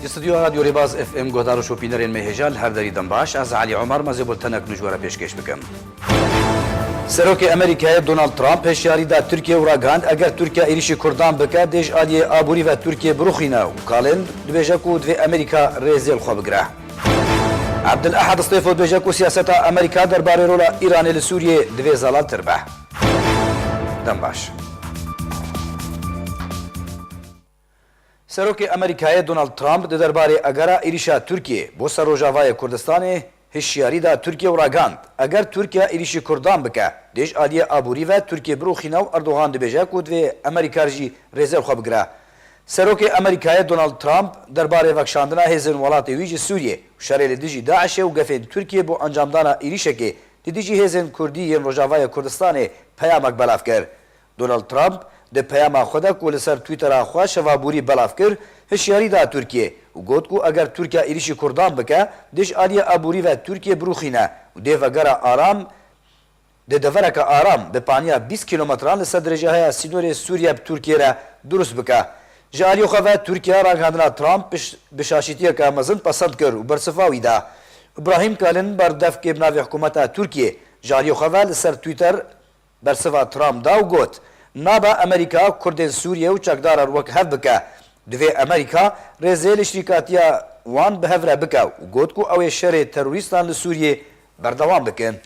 Di stûdyoya Radyo Rêbaz FM guhdar û şopînerên me hêja li her derî dem baş. Ez Elî Omar me zê bultenek nûjwara pêşkêş bikim. Serokê Amerîkayê Donald Trump hişyarî da Tirkiyeyê û ragihand eger Tirkiya êrîşî Kurdan bike dê ji aliyê aborî ve Tirkiye birûxîne û kalên dibêje ku divê Amerîka rêzê li xwe bigire. Abdul Ahad Stêfo dibêje ku siyaseta Amerîka derbarê rola Îranê li Sûriyê divê zelaltir be. Dem baş. Serokê Amerîkayê Donald Trump di derbarê agera êrîşa Tirkiyê bo ser Rojavayê Kurdistanê hişyarî da Tirkiyê û ragihand, Eger Tirkiye êrîşî Kurdan bike, di êş aliyê aborî ve Tirkiyê birûxîne û Erdogan dibêje ku divê Amerîkar jî rêzên xwe bigire. Serokê Amerîkayê Donald Trump derbarê vekşandina hêzên welatê wî ji Sûriyê û şerê li dijî DAIŞ'ê û gefên Tirkiyê bo encamdana êrîşekê li dijî hêzên Kurdî yên Rojavayê Kurdistanê peyamek belav kir. Donald Trump di peyama xwe de ku li ser Twîttera xwe şeva borî belav kir, hişyarî da Tirkiyê û got ku eger Tirkiya êrîşî Kurdan bike, dij aliyê aborî ve Tirkiye birûxîne û dê vegera aram Di devereke aram bi paniya bîst kîlometran li ser dirêja heya sînorê Sûriye bi Tirkiyê re dirust bike. Ji aliyê xwe ve Tirkiye ragihandina Trump bi şaşîtiyeke mezin pesend kir û bersiva wî da. Ibrahim Kalin berdevkê bi navê Hikûmeta Tirkiyê ji aliyê xwe ve li ser Twitter bersiva Trump da û got, Nabe Amerîka Kurdên Sûriye û çekdaran wek hev bike. Divê Amerîka rêzê li şrîkatiya wan bi hev re bike û got ku ew ê şerê terorîstan li Sûriyê berdewam bikin.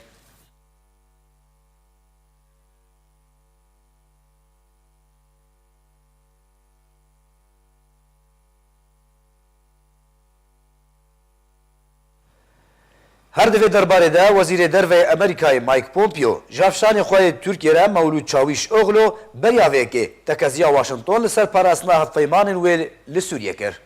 Her di vê derbarê de Wezîrê Derveyê Amerîkayê Mike Pompeo ji hevşanê xwe yê Tirkiyê re Mewlûd Çawîşoglo beriya vê yekê tekeziya Washington li ser parastina hevpeymanên wê li Sûriyê kir.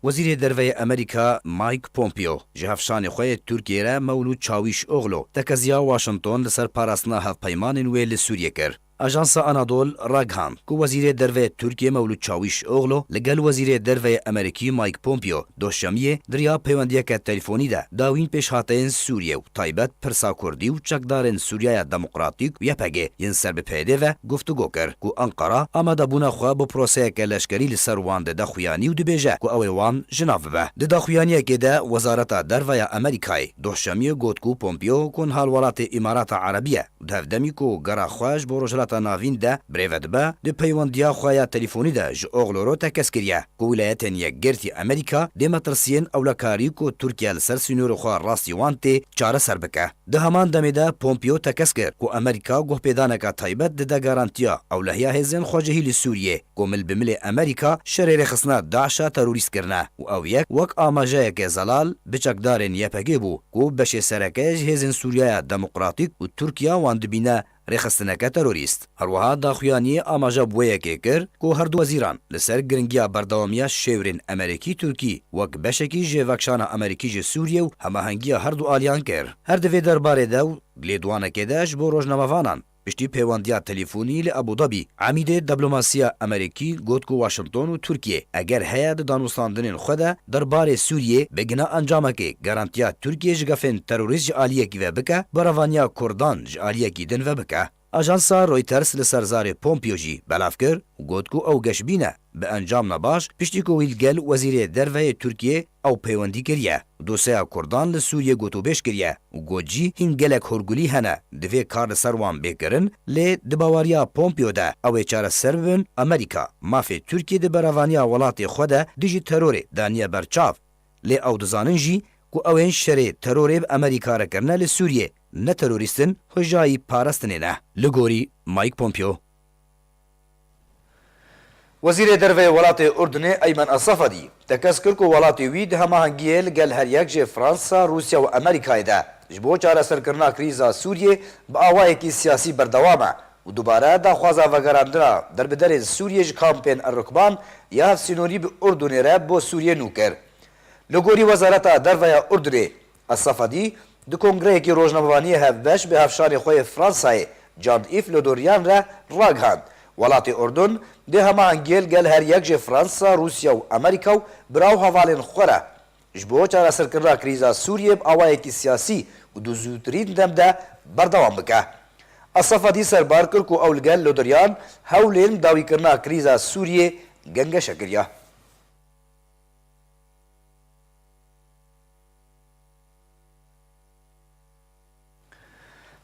Wezîrê Derve yê Amerîka Mike Pompeo ji hevşanê xwe yê Tirkiyeyê re Mewlût Çawîşoglu tekeziya Washington li ser parastina hevpeymanên wê li Sûriyê kir. Ajansa Anadol ragihand ku Wezîrê Derve yê Tirkiyeyê Mewlût Çawîşoglu li gel Wezîrê Derve yê Amerîkî Mike Pompeo Duşemiyê di riya peywendiyeke telîfonî de dawîn pêşhateyên Sûriyê û bi taybet Pirsa Kurdî û çekdarên Sûriyaya Demokratîk û YPG yên ser bi PYDê ve guftûgo kir ku Enqera amadebûna xwe bo proseyeke leşkerî li ser wan dide xuyanî û dibêje ku ew ê wan ji nav bibe. Di daxuyaniyekê de Wezareta Derve ya Amerîkayê doh şemiyê got ku Pompeo ku niha li welatê Îmarata Erebî ye, Di hev demî ku gera xwe ji bo Rojhilata Navîn de birêve dibe, di peywendiya xwe ya telîfonî de ji Ogloro tekez kiriye ku Wîlayetên Yekgirtî Amerîka dê metirsiyên ewlekarî ku Tirkiye li ser sînorê xwe rastî wan tê çareser bike. Di heman demê de Pompeo tekez kir ku Amerîka guhpêdaneka taybet dide garantiya ewlehiya hêzên xwecihî li Sûriyê. Ku mil bi milê Amerîka şerê rêxistina DAIŞ a terorîst kirine û ew yek wek amajeyeke zelal bi çekdarên YPG'ê bû ku beşê sereke ji hêzên Sûriyaya Demokratîk û Tirkiya wan dibîne rêxistineke terorîst. Herweha daxuyaniyê amaje bi wê yekê kir ku her du wezîran li ser giringiya berdewamiya şêwirên Emerîkî-Tirkî wek beşekî ji vekşana Amerîkî ji Sûriyê û hemahengiya her du aliyan kir. Her di vê derbarê de û lêdwanekê de ji bo rojnamevanan, Piştî pêwandiya telîfonî li Abûdabî, Emîdê Deblomasîya Emerîkî got ku Waşington û Tirkîye eger heye di danûstandinên xwe de der barê Sûrîyê bigina encamekê garantiya Tirkîyê ji gefên terorîst ji alîyekî ve bike bi revaniya Kurdan ji alîyekî din ve bike. Ajansa Reuters li ser zarê Pompeo jî belav kir û got ku ew geşbîn e. Bi encam ne baş, piştî ku wî li gel Wezîrê Derveyê Tirkiyê ew peywendî kiriye, doseya Kurdan li Sûriyê gotûbêj kiriye û got jî hîn gelek hûrgulî hene, divê kar li ser wan bê kirin, lê di bawariya Pompeo de ew ê çareser bibin, Amerîka mafê Tirkiyê di berevaniya welatê xwe de dijî terorê daniye ber çav, lê ew dizanin jî ku ew ên şerê terorê bi Amerîka re kirine li Sûriyê ne terorîst in, xwe jayî parestinê ne. Li gorî Mike Pompeo, Wezîrê Derve welatê Urdinê Eymen Asafadî tekez kir ku welatê wî di hemahengiyê li gel heryek ji Fransa, Rûsya û Amerîkayê de ji bo çareserkirina krîza Sûriyê bi awayekî siyasî berdewam e û dubare daxwaza vegerandina derbiderên Sûriyê ji kampên Errukban ya hevsînorî bi Urdinê re bo Sûriyê nû kir. Li gorî Wezareta Derveya Urdinê, Esafadî di kongreyekî rojnamevaniyê hevbeş bi hevşarê xwe yê Fransayê Cand Îf Le Dorian re ragihand, Welatê Urdun dê hemahengiyê li gel her yek jê Fransa, Rûsya û Amerîka û biraw hevalên xwe re ji bo çareserkirina krîza Sûriyê bi awayekî siyasî û di zûtirîn dem de berdewam bike. Esafadî serbar kir ku ew li gel Le Dorian hewlên bi dawîkirina krîza Sûriyê gengeşe kiriye.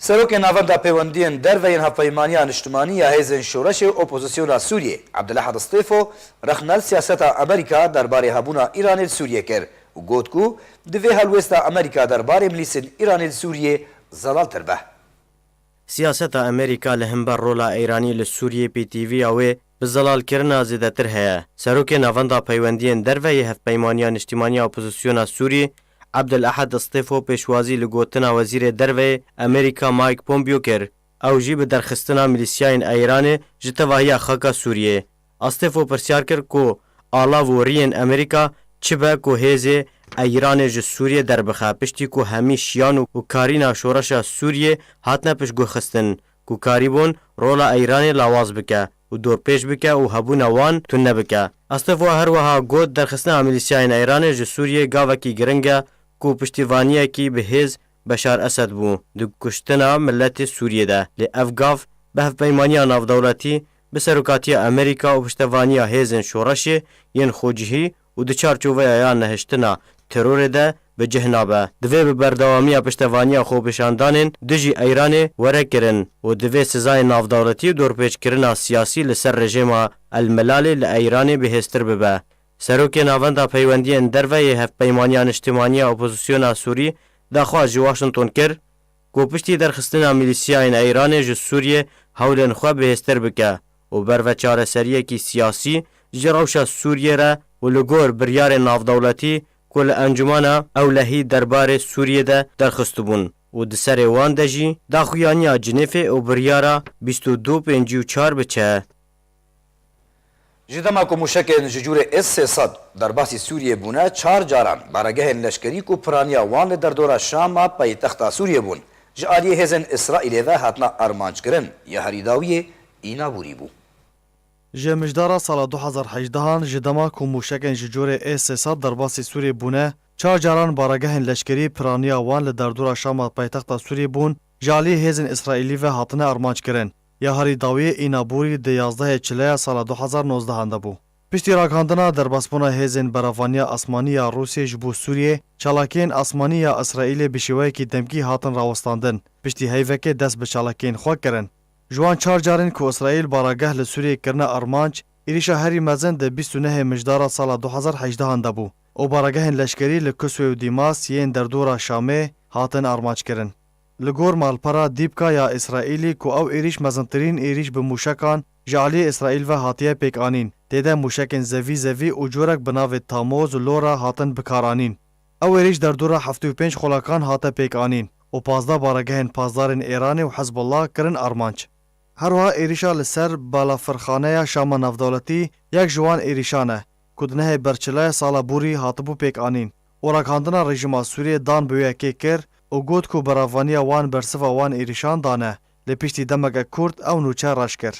Serokê Navenda Pêwendiyên Derve yên Hevpeymaniya Niştimanî ya Hêzên Şoreşê û Opozîsyona Sûriyê Abdulahad Stêfo rexnel siyaseta Amerîka derbarê hebûna Îranê li Sûriyê kir û got ku divê helwêsta Amerîka derbarê milîsên Îranê li Sûriyê zelaltir be. Siyaseta Amerîka li himber rola Îranî li Sûriyê pêtîviya wê bi zelalkirina zêdetir heye. Serokê Navenda Peywendiyên Derve yê Hevpeymaniya Niştîmaniya Opozisyona Sûrî Abdel Ahed Stêfo pêşwazî li gotina Wezîrê Derveyê Amerîka Mike Pompeo kir, ew jî bi derxistina milîsyayên Îranê ji tevahiya xaka Sûriyê, Astefo pirsyar kir ku ala voriyên Amerîka çi be ku hêzê Îranê ji Sûriyê derbixe piştî ku hemî şiyan û karîna şoreşa Sûriyê hatine piştgûrxistin ku karîbûn rola Îranê lawaz bike û dorpêç bike û hebûna wan tune bike. Astefo her wiha got, Derxistina milîsyayên Îranê ji Sûriyê gavekî giring e ku piştîvaniyekî bi hêz Beşar Esed bû di kuştina miletê Sûriyê de lê ev gav bi hevpeymaniya navdewletî, bi serokatiya Amerîka û piştevaniya hêzên şoreşê yên xwecihî û di çarçoveya ya nehiştina terorê de bi cih nabe. Divê bi berdewamiya piştevaniya xwepêşandanên dijî Eyranê were kirin û divê sizayên navdewletî û dorpêçkirina siyasî li ser rejêma El Melalê li Eyranê bihêztir bibe. Serokê Navenda Peywendiyên Derve yê Hevpeymaniya Niştimaniya Opozisyona Sûrî daxwaz ji Washington kir ku piştî derxistina milîsiyayên Eyranê ji Sûriyê hewlên xwe bihêztir bike û ber ve çareseriyekî siyasî ji rewşa Sûriyê re û li gor biryarên navdewletî ku li Encûmena Ewlehî derbarê Sûriyê de derxistibûn û di serê wan de jî daxuyaniya Cinêfê û biryara bîst û du, pêncî û çar biçe. Ji dema ku mûşekên ji cûrê S sê sed derbasî Sûriyê bûne, çar caran baregehên leşkerî ku piraniya wan li derdora Şama paytexta Sûriyê bûn, ji aliyê hêzên Îsraîlê ve hatina armanckirin ya herî dawiyê îna bûrî bû. Ji mijdara sala du hezar hejdeh an ji dema ku mûşekên ji cûrê S sê sed derbasî Sûriyê bûne, çar caran baregehên leşkerî piraniya wan li derdora Şama paytexta Sûriyê bûn, ji aliyê hêzên Îsraîlî ve hatine armanckirin. Ya herî dawî Înaborî di yazdehê çileya sala du hezar nozdehan de bû. Piştî ragihandina derbasbûna hêzên beravaniya asmanî ya Rûsiyê ji bo Sûriyê, çalakiyên asmanî ya Îsraîlê bi şêweyekî demkî hatin rawestandin, piştî heyvekê dest bi çalakiyên xwe kirin. Ji wan çar carên ku Îsraîl barageh li Sûriyê kirine armanc, êrîşa herî mezin di bîst û nehê mijdara sala du hezar hejdehan de bû û baragehên leşkerî li Kuswê û Dîmas yên derdora Şamê hatin armanc kirin. Li gor malpera Dîpka ya Îsraîlî ku ew êrîş mezintirîn êrîş bi mûşekan ji aliyê Îsraîl ve hatiye pêkanîn, tê de mûşekên zevî zevî û corek bi navê Tamoz, Lora hatin bikaranîn. Ew êrîş derdora heftê û pênc qulakan hate pêkanîn û pazdeh baregehên pasdarên Êranê û Hizbullah kirin armanc. Her wiha êrîşa li ser balafirxaneya Şama Navdewletî yek ji wan êrîşan e ku di nehê berçilaya sala bûrî hatibû pêkanîn û ragihandina rejîma Sûriyê dan bi wê yekê kir û got ku bi revaniya wan bersiva wan êrîşan dane lê piştî demeke kurt ew nûçe reş kir.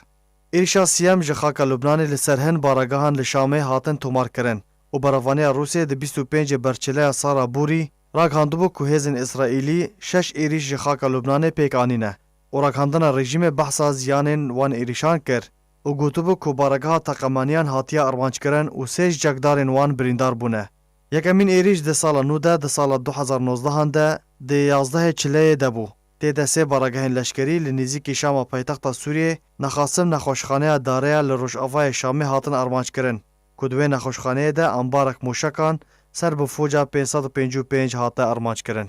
Êrîşa siyem ji xaka Lubnanê li ser hin baragehan li Şamê hatin tomarkirin û bi revaniya Rûsyê di bîst û pêncê berçileya Sara Bûrî ragihandibû ku hêzên Îsraîlî şeş êrîş ji xaka Lubnanê pêk anîne û ragihandina rejîmê behsa ziyanên wan êrîşan kir û gotibû ku barageha teqemaniyan hatiye armanc kirin û sê ji çekdarên wan birîndar bûne. Yekemîn êrîş di sala nû de, di sala du hezar nozdehan de, di yazdehê çileyê de bû. Tê de sê baragehên leşkerî li nêzîkî Şama paytexta Sûriyê, Nexasim nexweşxaneya Dareya li rojavayê Şamê hatin armanckirin ku di wê nexweşxaneyê de ambarek mûşekan ser bi foca pênc sed û pêncî û pênc hate armanckirin.